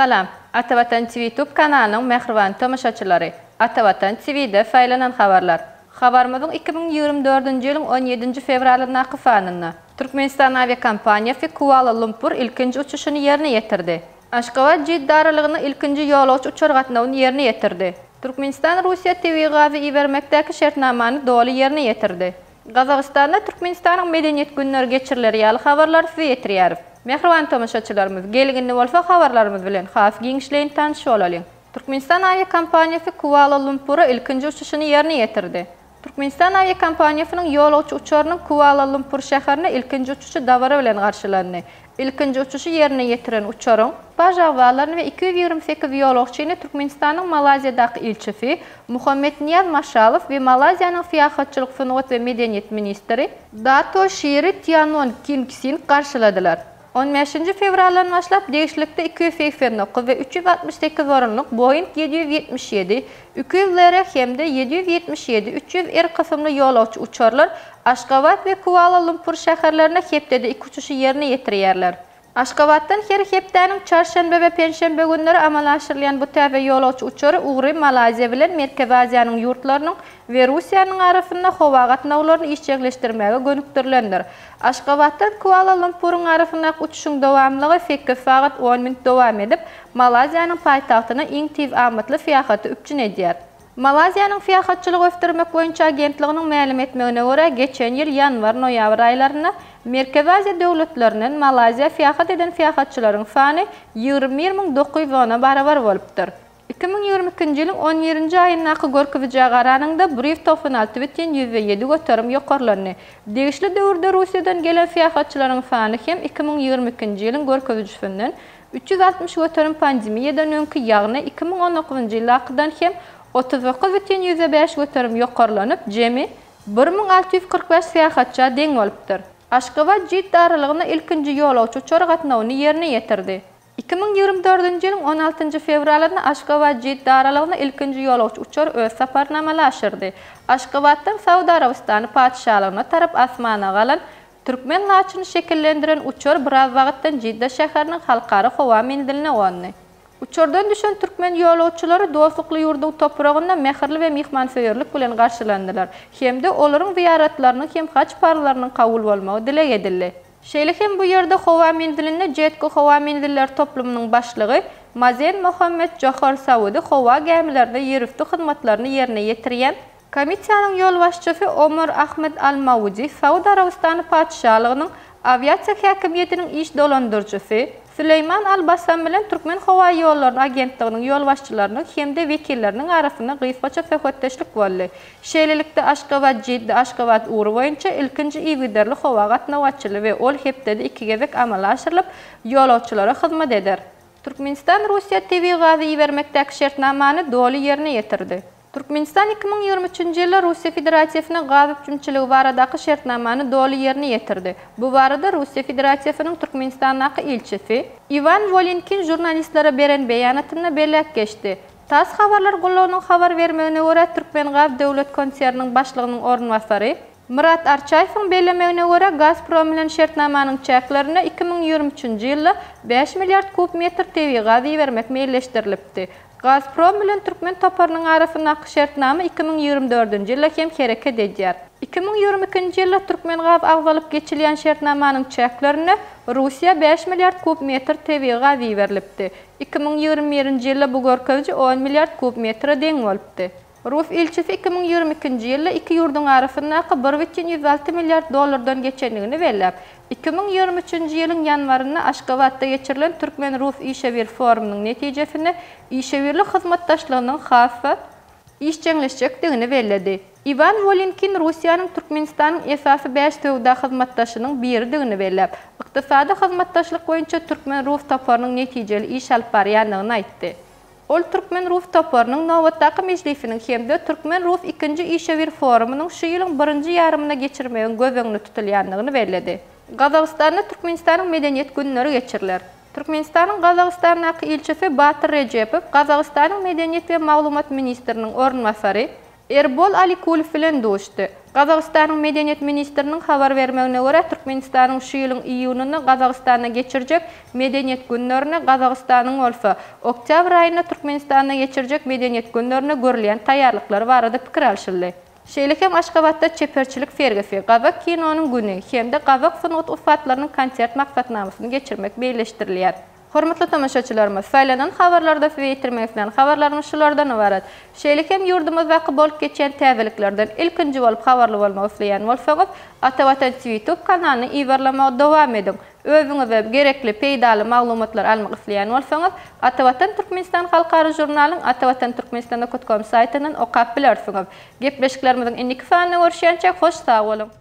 Salam! Atavatan TV YouTube kanalynyň mähriban tomaşaçylary! Atavatan TV-de saýlanan habarlar. Habarymyzyň iki müň ýigrimi dördünji ýylyň on ýedinji fewralyndaky sanynda. Türkmenistan awiakompaniýasy Kuala-Lumpur ilkinji uçuşyny ýerine ýetirdi. Aşgabat-Jidda aralygyna ilkinji ýolagçy uçar gatnawyny ýerine ýetirdi. Türkmenistan Russiýa tebigy gazy ibermekdäki şertnamany doly ýerine ýetirdi. Gazagystanda Türkmenistanyň Medeniýet günleri geçiriler ýaly habarlary size ýetirýäris. Mähriban tomaşaçylarymyz, gelgindi bolsa habarlarymyz bilen has giňişleýin tanyş bolalyň. Türkmenistan awiakompaniýasy Kuala-Lumpura ilkinji uçuşyny ýerine ýetirdi. Türkmenistan awiakompaniýasynyň ýolagçy uçarynyň Kuala-Lumpur şäherine ilkinji uçuşy dabara bilen garşylandy. Ilkinji uçuşy ýerine ýetiren uçaryň paşagazlaryny we iki ýüz ýigrimi sekiz ýolagçyny Türkmenistanyň Malaýziýadaky ilçisi Muhammetniýaz Maşalow we Malaýziýanyň syýahatçylyk, sungat we medeniýet ministri Dato Şiri Tianon King Sing garşyladylar. On bäşinji fewraldan başlap degişlikde iki ýüz segsen dokuz we üç ýüz altmyş sekiz orunlyk Boeing ýedi ýüz ýetmiş ýedi, iki ýüz LR hem-de ýedi ýüz ýetmiş ýedi, üç ýüz R kysymly ýolagçy uçarlar Aşgabat we Kuala-Lumpur şäherlerine hepdede iki uçuşy ýerine ýetirýärler. Aşgabatdan her hepdäniň çarşenbe we penşenbe günleri amala aşyrylýan bu täze ýolagçy uçary ugry Malaýziýa bilen Merkezi Aziýanyň ýurtlarynyň we Russiýanyň arasynda howa gatnawlaryny işjeňleşdirmäge gönükdirilendir. Aşgabatdan Kuala-Lumpuryň arasyndaky uçuşyň dowamlylygy sekiz sagat on minut dowam edip, Malaýziýanyň paýtagtyna iň tiz amatly syýahaty üpjün edýär. Malaýziýanyň Syýahatçylygy ösdürmek boýunça agentliginiň mälim etmegine görä, geçen ýyl ýanwar-noýabr aýlarynda Merkezi Aziýa döwletlerinden Malaýziýa syýahat eden syýahatçylaryň sany ýigrimi bir müň dokuz ýüz ona barabar bolupdyr. Iki müň ýigrimi ikinji ýylyň on birinji aýyndaky görkezijä garanyňda, Brýus togsan alty bütin ýüzde ýedi göterim ýokarlandy. Degişli döwürde Russiýadan gelen syýahatçylaryň sany hem iki müň ýigrimi ikinji ýylyň görkezijisinden üç ýüz altmyş göterim pandemiýadan öňki, ýagny iki müň on dokuzynjy ýyldakydan hem otuz dokuz bütin ýüzde bäş göterim ýokarlanyp, jemi bir müň alty ýüz kyrk bäş syýahatça deň bolupdyr. Aşgabat-Jidda aralygynda ilkinji ýolagçy uçary gatnawyny ýerine ýetirdi. Iki müň ýigrimi dördünji ýylyň on altynjy fewralynda Aşgabat-Jidda aralygyna ilkinji ýolagçy uçar öz saparyny amala aşyrdy. Aşgabatdan Saud Arabystany Patyşalygyna tarap asmana galan, türkmen laçyny şekillendiren uçar biraz wagtdan Jidda şäheriniň halkara howa menziline gondy. Uçardan düşen türkmen ýolagçylary dostlukly ýurduň topragynda mähirli we myhmansöýerlik bilen garşylandylar hem-de olaryň zyýaratlarynyň hem haj parzlarynyň kabul bolmagy dileg edildi. Şeýle hem bu ýerde howa menzilinde Jetco howa menzilleri toplumynyň başlygy Mazen Mohammed Johar Saudi howa gämilerinde ýerüsti hyzmatlaryny ýerine ýetirýän Komissiýanyň ýolbaşçysy Omar Ahmed Al Maudi, Saud Arabystany Patyşalygynyň awiasiýa häkimiýetiniň iş dolandyryjysy, Süleýman Al Bassam bilen Türkmen howa ýollary agentliginiň ýolbaşçylarynyň hem-de wekilleriniň arasynda gysgaça söhbetdeşlik boldy. Şeýlelikde, Aşgabat-Jidda Aşgabat ugry boýunça ilkinji yzygiderli howa gatnawy açyldy we ol hepdede iki gezek amala aşyrylyp, ýolagçylara hyzmat eder. Türkmenistan Russiýa tebigy gazy ibermekdäki şertnamany doly ýerine ýetirdi. Türkmenistan iki müň ýigrimi üçünji ýylda Russiýa Federasiýasyna gaz üpjünçiligi baradaky şertnamany doly ýerine ýetirdi. Bu barada Russiýa Federasiýasynyň Türkmenistandaky ilçisi Iwan Wolinkin žurnalistlere beren beýanatynda belläp geçdi. Tass habarlar gullugynyň habar bermegine görä, Türkmengaz döwlet konserniniň başlygynyň orunbasary, Myrat Arçaýewiň bellemegine görä, Gazprom bilen şertnamanyň çäklerinde iki müň ýigrimi üçünji ýylda bäş milliard kub metr tebigy gaz ibermek meýilleşdirilipdi. Gazprom bilen türkmen toparynyň arasyndaky şertnama iki müň ýigrimi dördünji ýyla hem hereket edýär. Iki müň ýigrimi ikinji ýylda Türkmengaz agzalyp geçilýän şertnamanyň çäklerinde Russiýa bäş milliard kub metr tebigy gaz iberlipdi. Iki müň ýigrimi birinji ýylda bu görkeziji on milliard kub metre deň bolupdy. Rus ilçisi iki müň ýigrimi ikinji ýylda iki ýurduň arasyndaky bir bütin ýüz alty milliard dollardan geçendigini belläp, iki müň ýigrimi üçünji ýylyň ýanwarynda Aşgabatda geçirilen türkmen-rus işewür forumynyň netijesinde işewürlik hyzmatdaşlygynyň has-da işjeňleşjekdigini belledi. Iwan Wolinkin Russiýanyň Türkmenistanyň esasy bäş söwda hyzmatdaşynyň biridigini belläp, ykdysady hyzmatdaşlyk boýunça türkmen-rus toparynyň netijeli iş alyp barýandygyny aýtdy. Ol türkmen-rus toparynyň nobatdaky mejlisiniň hem-de türkmen-rus ikinji işewür forumynyň şu ýylyň birinji ýarymynda geçirmegiň göz öňünde tutulýandygyny belledi. Gazagystanda Türkmenistanyň Medeniýet günleri geçiriler. Türkmenistanyň Gazagystandaky ilçisi Batyr Rejepow Gazagystanyň Medeniýet we maglumat ministriniň orunbasary Erbol Alikulow bilen duşdy. Gazagystanyň Medeniýet ministriniň habar bermegine görä, Türkmenistanyň şu ýylyň iýunyny Gazagystanda geçirjek Medeniýet günlerine, Gazagystanyň bolsa, oktýabr aýynda Türkmenistanda geçirjek Medeniýet günlerine görülýän taýýarlyklary barada pikir alşyldy. Şeýle hem Aşgabatda Çeperçilik sergisi, Gazak kinonyň güni hem-de Gazak sungat ussatlarynyň konsert maksatnamasyny geçirmek meýilleşdirilýär. Hormatly tomaşaçylarymyz, saýlanan habarlarda size ýetirmek islän habarlarymyz şulardan ybarat. Şeýle hem ýurdumyzdaky bolup geçýän täzeliklerden ilkinji bolup habarly bolmak isleýän bolsaňyz, Ata Watan TV ýutub kanalyny yzarlamagy dowam ediň. Özüňize gerekli peýdaly maglumatlary almak isleýän bolsaňyz, Ata Watan Türkmenistan halkara žurnalyň atawatanturkmenistanda kutkom saýtyndan okap bilersiňiz. Gepleşiklerimiziň indiki sanynda görüşýänçä hoş sag boluň!